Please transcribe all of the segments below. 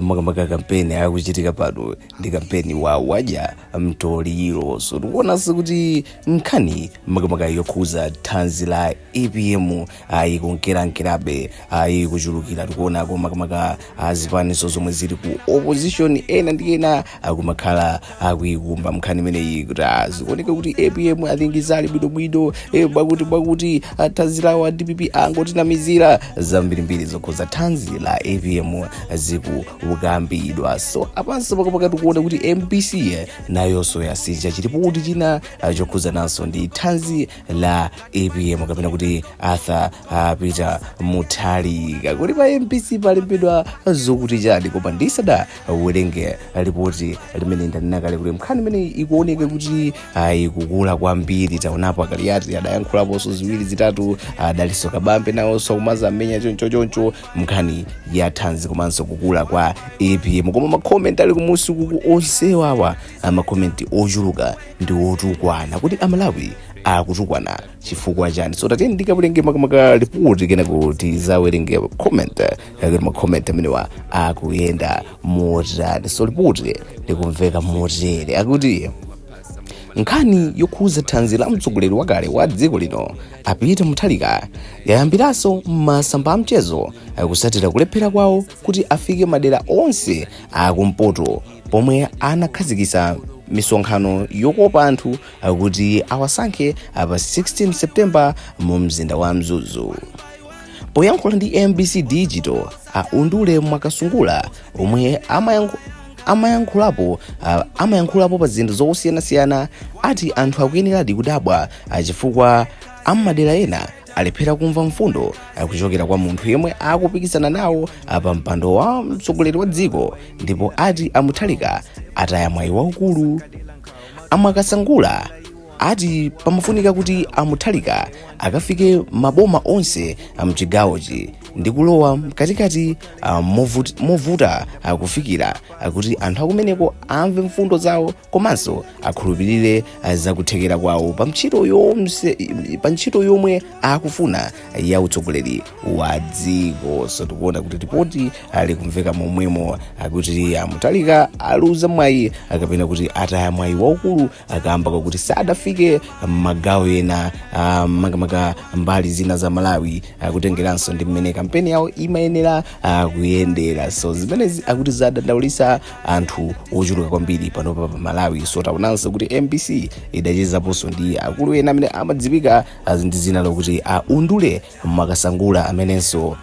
makamaka kampeni akuchitika pano ndi kampeni wa wadya mtoliro so tikuonanso kuti nkhani makamaka yokhuza thanzi la apm ayi kunkerankerabe ayi kuchulukira tikuonako makamaka azipaninso zomwe zili ku opposition ena ndi ena akumakhala akuikumba nkhani imeneyi kuti ah, zikuoneka kuti apm sali bwinobwino eh, bwakuti bwakuti thanzi lawo a dpp angotinamizira zambirimbiri zokhuza thanzi la apm zikukambidwa so apanso makamaka tikuona kuti mbc eh, nayonso yasindikiza lipoti china ah, chokhuzananso ndi thanzi la apm kapena kuti arthur ah, peter mutharika kodi pa mbc palembedwa zokuti chani koma ndisada werenge lipoti limene ndanena kale kuti nkhani imene ikuoneka kuti ah, ikukula kwambiri taonapo akaliyati adayankhulaponso ziwiri zitatu adalinso kabambe nawonso kumaza mmenya choncho choncho nkhani ya thanzi komanso kukula kwa apm koma makomenti ali kumusiku ambiri mwa makomenti ochuluka ndi otukwana kodi amalawi akutukwana chifukwa chani so tatiyeni ndikawerenge makamaka lipoti kenako tidzawerenge comment kaya kuti macomment amenewa akuyenda motani so lipoti likumveka motere akuti nkhani yokhuza thanzi la mtsogoleri wakale wa dziko lino a peter mutharika yayambiranso masamba a mchezo kutsatira kulephera kwawo kuti afike madera onse akumpoto pomwe anakhazikitsa misonkhano yokopa anthu kuti awasankhe pa 16 september mu mzinda wa mzuzu poyankhula ndi mbc digital a undule mwakasungula omwe amayankhu- amayankhulapo a- amayankhulapo pa zinthu zosiyanasiyana ati anthu akuyeneradi kudabwa a chifukwa ammadera ena alephera kumva mfundo kuchokera kwa munthu yemwe akupikisana nawo pa mpando wa mtsogoleri wa dziko ndipo ati a mutharika ataya mwayi waukulu a mwakasungula ati pamafunika kuti a mutharika akafike maboma onse a mchigawochi ndi kulowa mkatikati ah, movuti- movuta ah, kufikira ah, kuti anthu akumeneko amve mfundo zawo komanso akhulupirire ah, zakuthekera kwawo pa ntchito yonse pa ntchito yomwe akufuna ya utsogoleri wa dziko so tikuona kuti ripoti likumveka momwemo akuti a mutharika aluza mwayi kapena kuti ataya mwayi waukulu kamba kakuti sadafike magawo ena ah, makamaka mbali zina za malawi kutengeranso ndi mmene kampeni yawo imayenera ah, kuyendera so zimenezi akuti zadandaulitsa anthu ochuluka kwambiri pano pa malawi so taonanso kuti mbc idachezaponso ndi akulu ena amene amadziwika ah, ndi dzina lokuti a undule mwakasangula amenenso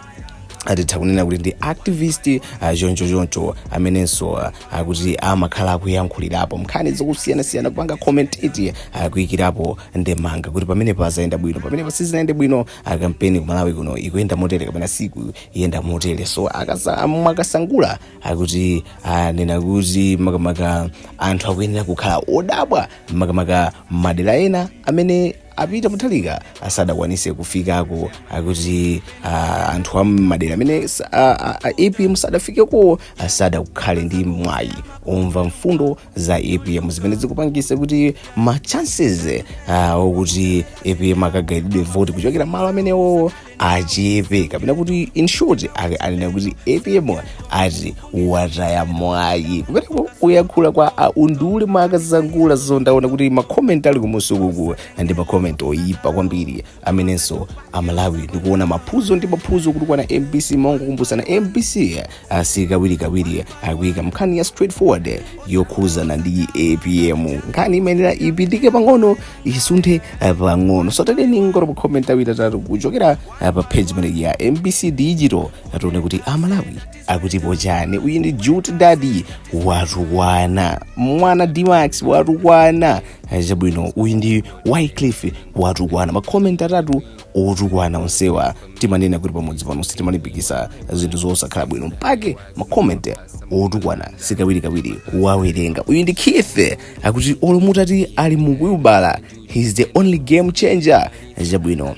atitha kunena kuti ndi activist uh, choncho choncho amenenso uh, akuti amakhala akuyankhulirapo nkhani zosiyanasiyana kupanga commentate uh, kuyikirapo ndemanga kuti pamene pazayenda bwino pamene sizinayende bwino uh, kampeni ku Malawi kuno ikuyenda motere kapena sikuyenda motere so akasa- mwakasangula akuti anena kuti makamaka anthu akuyenera kukhala odabwa makamaka madera ena amene A Peter Mutharika sadakwanise kufikako akuti ah, anthu a m'madera amene sa- ah, ah, ah, apm sadafikeko ah, sadakhale ndi mwayi omva mfundo za apm zimene zikupangisa kuti ma chances ah, okuti apm akagaidwe voti kuchokera malo amenewo achepe kapena kuti in short anena kuti apm ati wataya mwayi kumeneko kuyankhula kwa a undule mwakasangula so ndaona kuti makomenti ali kumusi kuku ndi makomenti oyipa kwambiri amenenso amalawi ndikuona maphuzo ndi maphuzo kutukwana mbc mongokumbutsana mbc ah, sikawirikawiri kuika nkhani ya straightforward yokhuzana ndi apm nkhani imayenera ipindike pang'ono isunthe ah, pang'ono so tatiyeni tingoona makomenti awiri atatu kuchokera ah, pa page imeneyi ya mbc digital tione kuti amalawi akutipo chiyani uyu ndi jute daddy watukwana mwana dmax watukwana Ah, chabwino uyu ndi wycliff watukwana makomenti atatu otukwana onsewa timanena kuti pamudzi pano sitimalimbikisa zinthu zosakhala bwino mpake makoment otukwana sikawirikawiri kuwawerenga uyu ndi keith akuti olo mutati ali mu wilibala he's the only game changer chabwino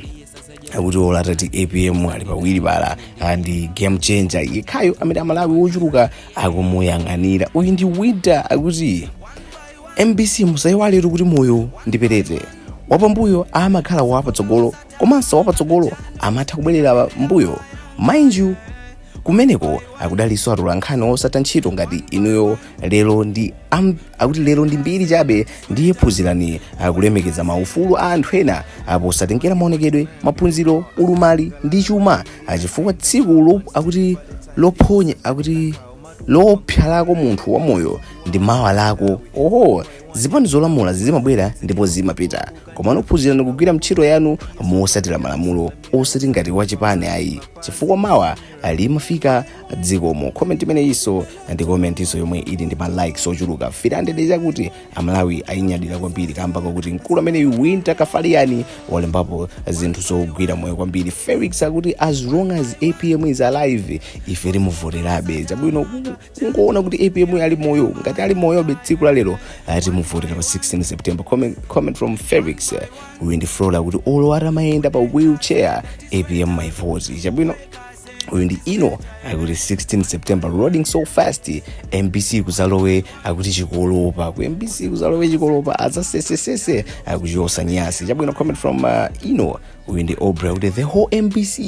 akuti olo atati apm ali pa wilibala ndi game changer yekhayo amene amalawi ochuluka akumuyang'anira uyu ndi winter akuti mbc musaiwaletu kuti moyo ndi perete wapambuyo amakhala wapatsogolo komanso wapatsogolo amatha kubwerera mbuyo mind you kumeneko kudalinso atolankhani odziwa ntchito ngati inuyo lero ndi am, akuti lero ndi mbiri chabe ndiye phunzirani kulemekeza maufulu a anthu ena posatengera maonekedwe maphunziro ulumali ndi chuma chifukwa tsiku lo, akuti lophonya akuti lopsa lako munthu wamoyo ndi mawa lako oho zipani zolamula zimabwera ndipo zimapita komano phunzirani kugwira ntchito yanu mosatira malamulo osati ngati wachipani ayi chifukwa mawa limafika zikomo comment imeneyinso ndi commentinso yomwe ili ndi ma likes ochuluka 300 chakuti amalawi ayinyadira kwambiri kamba kakuti mkulu ameneyu winter kafaliyani walembapo zinthu zogwira moyo kwambiri felix akuti as long as apm is alive ife timuvoterabe chabwino kungoona kuti apm ali moyo ngati ali moyobe tsiku la lero timuvotera pa 16 september comment, comment from felix eh, uyu ndi flora akuti olo atamayenda pa wheelchair apm my vote chabwino uyu ndi ino akuti 16 september loading so fast mbc kuzalowe akuti chikolopa ku mbc kuzalowe chikolopa azasesesese akuchosa nyasi chabwino comment from uh, ino uyu ndi obra akuti the whole mbc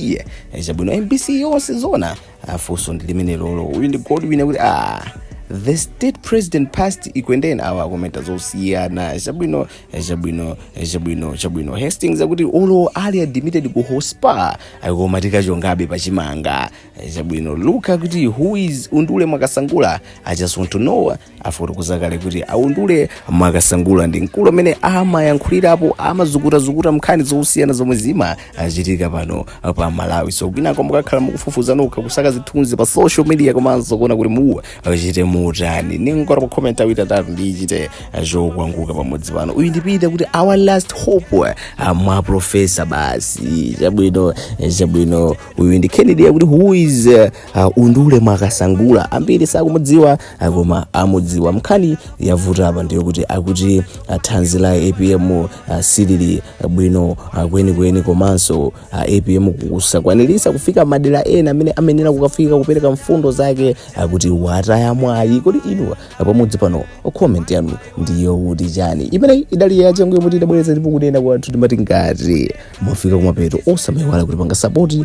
Eh, chabwino mbc yonse zona funso ndi limenelolo uyu ndi godwin akuti ah the state president past ikwendeni awo akomenta zosiyana chabwino chabwino chabwino chabwino hastings akuti olo ali admitted ku hospa koma tikachongabe pachimanga chabwino luka akuti who is undule mwakasangula i just want to know afotokoza kale kuti aundule mwakasangula ndi mkulu amene amayankhulirapo amazukutazukuta mnkhani zosiyana zomwe zimachitika pano pa malawi so kwinako muzakhala mukufufuza nokha kusaka zithunzi pa social media komanso kuona kuti muwa achite mutani ningotapa komenti awiri atatu ndichite zokwanguka pamodzi pano uyu ndi peter akuti our last hope uh, mwa profesa basi chabwino eh, chabwino uyu ndi kennedy akuti who is uh, uh, undule mwakasangula ambiri sakumudziwa uh, koma amudziwa nkhani yavuta apa ndiyo kuti akuti uh, thanzi la apm uh, silili uh, bwino uh, kwenikweni komanso uh, apm kusakwanirisa kufika madera ena amene amayenera kukafika kupereka mfundo zake uh, akuti wataya mwayi kodi inu uh, pamodzi pano uh, comment yanu ndiyo kuti chani imeneyi idali yachangu yomwe tidabweretsa ndipo kunena kwathu timati ngati mwafika kumapeto osamayiwala kutipanga sapoti